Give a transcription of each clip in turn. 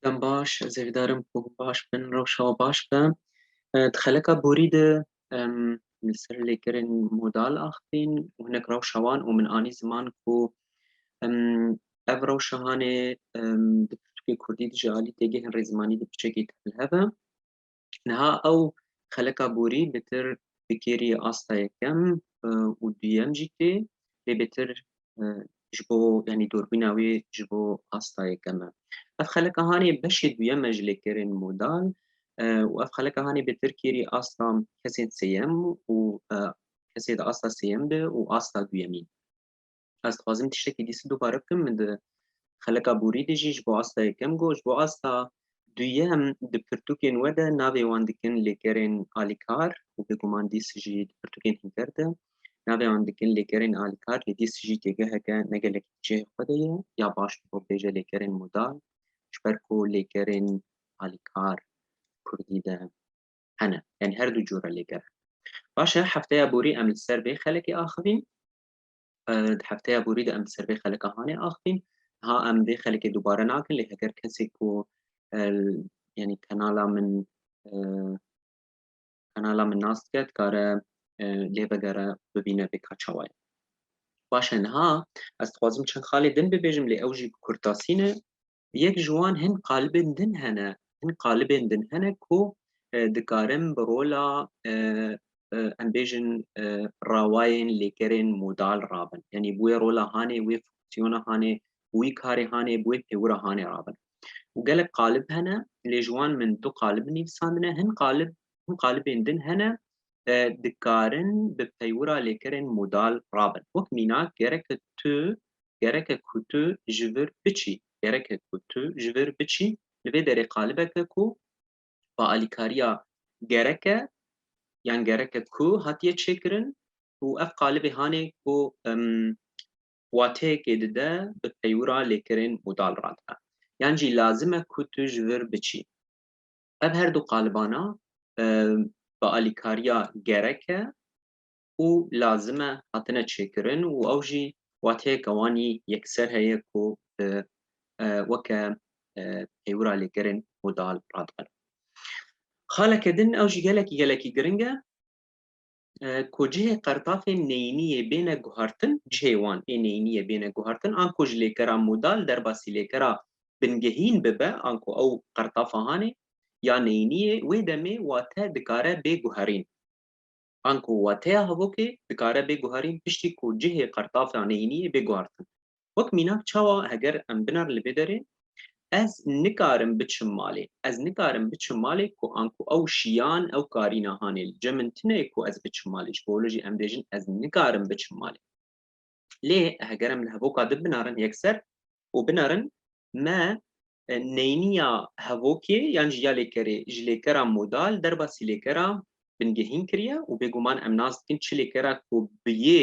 Dem baş, ez ê vidarim ku baş bin, rewşa we baş be. Di xeleka borî de em li ser lêkerên modal axivîn û hinek rewşa wan û min anî ziman ku em ev rewşa hanê em di pirtûkê kurdî dijî alî têgihên rêzmanî di piçekî tevlihev e. Niha ew xeleka borî bi tir bikêrî asta yekem û duyem jî tê lê bi tir ji bo yanî dorbîna wê ji bo asta yekem e. Ev xeleka hanê beşê duyem e ji lêkerên modal û ev xeleka hanê bi tir kêrî asta kesên sêyem û kesê di asta sêyem de û asta duyemî. Ez dixwazim tiştekî dîsî dubare bikim min di xeleka borî de jî ji bo asta yekem got ji bo asta duyem di pirtûkên we de navê wan dikin lêkerên alîkar û bêguman dîs jî di pirtûkên hînker de navê wan dikin lêkerên alîkar lê dîs jî têgeheke ne gelekî cihê xwe de ye ya baş bi bo bêje lêkerên modal ji ber ku lêkerên alîkar kurdî de hene yani her du cora lêker baş e hefteya borî em li ser vê xelekê axivîn Di hefteya borî de em di ser vê xelika hanê axivîn. Ha em vê xelikê dubare nakin lê heger kesê ku yanî kanala min kanala min nas dike dikare lê bigere bibîne vê ka çawa ye. Baş e niha ez dixwazim çend xalê din bibêjim lê ew jî bi kurtasî ne Yek ji wan hin qalibên din hene, hin qalibên din hene ku dikarin bi rola em bêjin rawayên lêkerên modal rabin. Yanî bi wê rola hanê, wê fonksiyona hanê, bi wî karê hanê, bi wê pêwira hanê rabin. Û gelek qalib hene, lê ji wan min du qalib nivîsandine, hin qalib hin qalibên din hene dikarin bi peywira lêkerên modal rabin. Wek mînak gereke tu gereke ku tu ji vir biçî gereke ku tu ji vir biçî li vê derê qalibeke ku bi alîkariya gereke yan gereke ku hatiye çêkirin û ev qalibê hanê ku wateyekê dide bi peywira lêkerên modal radin. Yan jî lazim e ku tu ji vir biçî. Ev her du qalibana bi alîkariya gerek e û lazim e hatine çêkirin û ew jî wateyeke wanî yekser heye ku bi weke peywira lêkerên modal radibe. Xaleke din ew jî gelekî gelekî giring e. ku cihê qertafên neyîniyê bêne guhartin, cihê wan ê neyîniyê bêne guhartin an ku ji lêkera modal derbasî lêkera bingehîn bibe an ku ew qertafa hanê ya neyîniyê wê demê wate dikare bê guherîn. An ku wateya hevokê dikare bê guherîn piştî ku cihê qertafa neyîniyê bê guhartin. Wek mînak çawa heger em binar li vê derê ez nikarim biçim malê. Ez nikarim biçim malê ku anku ew şiyan ew karî nahanê li cem min tune ye ku ez biçim malê. Ji bo wilo jî em bêjin ez nikarim biçim malê. Lê heger em li hevoka di binarin yekser û binarin me neyniya hevokê yan jî ya lêkerê ji lêkera modal derbasî lêkera bingehîn kiriye û bêguman em nas dikin çi lêkera ku bi yê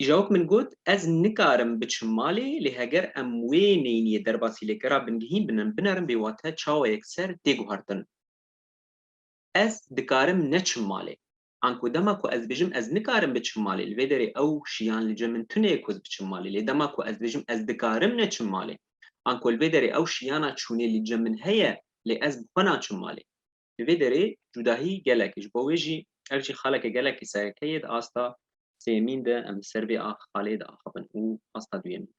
Îjawok min got, Ez nikarim biçim malê, lê heger em wê neyniye derbasî lê kera bingihîn binin binerin bê wate çawa yek ser tê guhertin. Ez dikarim neçim malê. Anko dema ku ez dibêjim ez nikarim biçim malê li vê derê ew şiyan li cem min tune ye ku ez biçim malê lê dema ku ez dibêjim ez dikarim neçim malê anko li vê derê ew şiyana çûnê li cem min heye lê ez bi xwe naçim malê. Li vê derê cudahî gelek ji bo wê jî ev jî xaleke gelekî sereke ye di asta sêyemîn de em li ser vê xalê de axivin û asta duyemîn.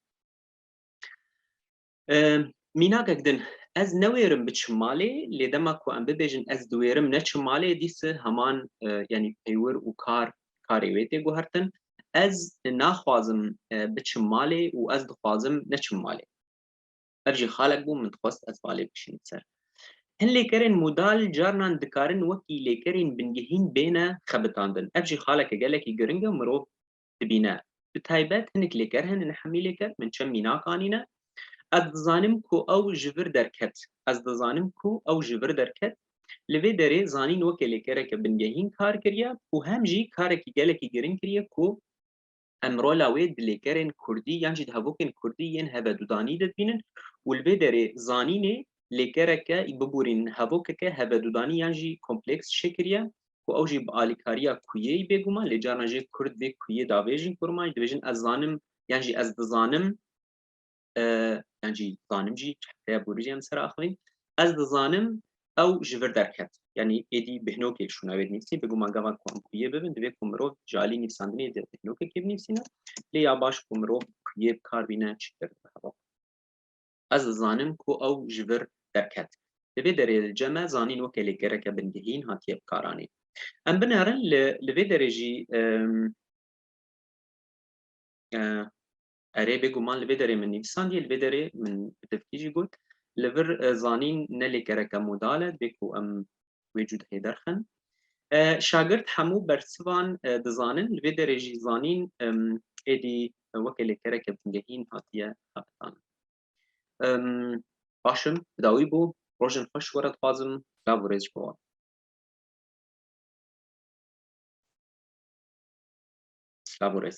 Mînakek din ez newêrim biçim malê lê dema ku em bibêjin ez diwêrim neçim malê dîs heman yanî peywir û kar karê wê tê guhertin ez naxwazim biçim malê û ez dixwazim neçim malê. Ev jî xalek bû min dixwest ez balê bikişînim ser. Hin lêkerên modal carinan dikarin wekî lêkerên bingehîn bêne xebitandin. Ev jî xaleke gelekî giring e mirov dibîne. Bi taybet hinek lêker hene ne hemî lêker min çem mînak anîne. Ez dizanim ku ew ji vir derket. Ez dizanim ku ew ji vir derket. Li vê derê zanîn weke lêkereke bingehîn kar kiriye û hem jî karekî gelekî giring kiriye ku em rola wê di lêkerên kurdî yan jî di hevokên kurdî yên hevedudanî de dibînin û li vê derê zanînê lêkereke biborînin hevokeke hevedudanî yan jî kompleks çêkiriye ku ew jî bi alîkariya kuyê bêguman lê carna jê kurd vê kuyê davêjin ku rima jî dibêjin ez zanim yan jî ez dizanim. encî zanim jî çehreye borîjê em ser axivîn ez dizanim ew ji vir derket yanî êdî bihnokê şûna wê nîvsî biguma gava ku em kuyê bibin divê ku mirov ji alî nîvsandinê de bihnokekê binîvsîne lê ya baş ku mirov kuyê bi kar bîne çi kir heva ez dizanim ku ew ji vir derket li vê derê li ceme zanîn weke lêkereke bingehîn hatiye bi karanê em binerin li li vê derê jî Erê, bêguman li vê derê min nivîsandiye, li vê derê min bi tirkî jî got. Li vir zanîn ne lêkereke modal e, divê ku em wê cudehê derxin. Şagirt hemû bersivan dizanin, li vê derê jî zanîn êdî weke lêkereke bingehîn hatiye xebitandin. Baş im, bi dawî bû, rojên xweş were dixwazim, silav û rêz ji bo wan. Silav û rêz.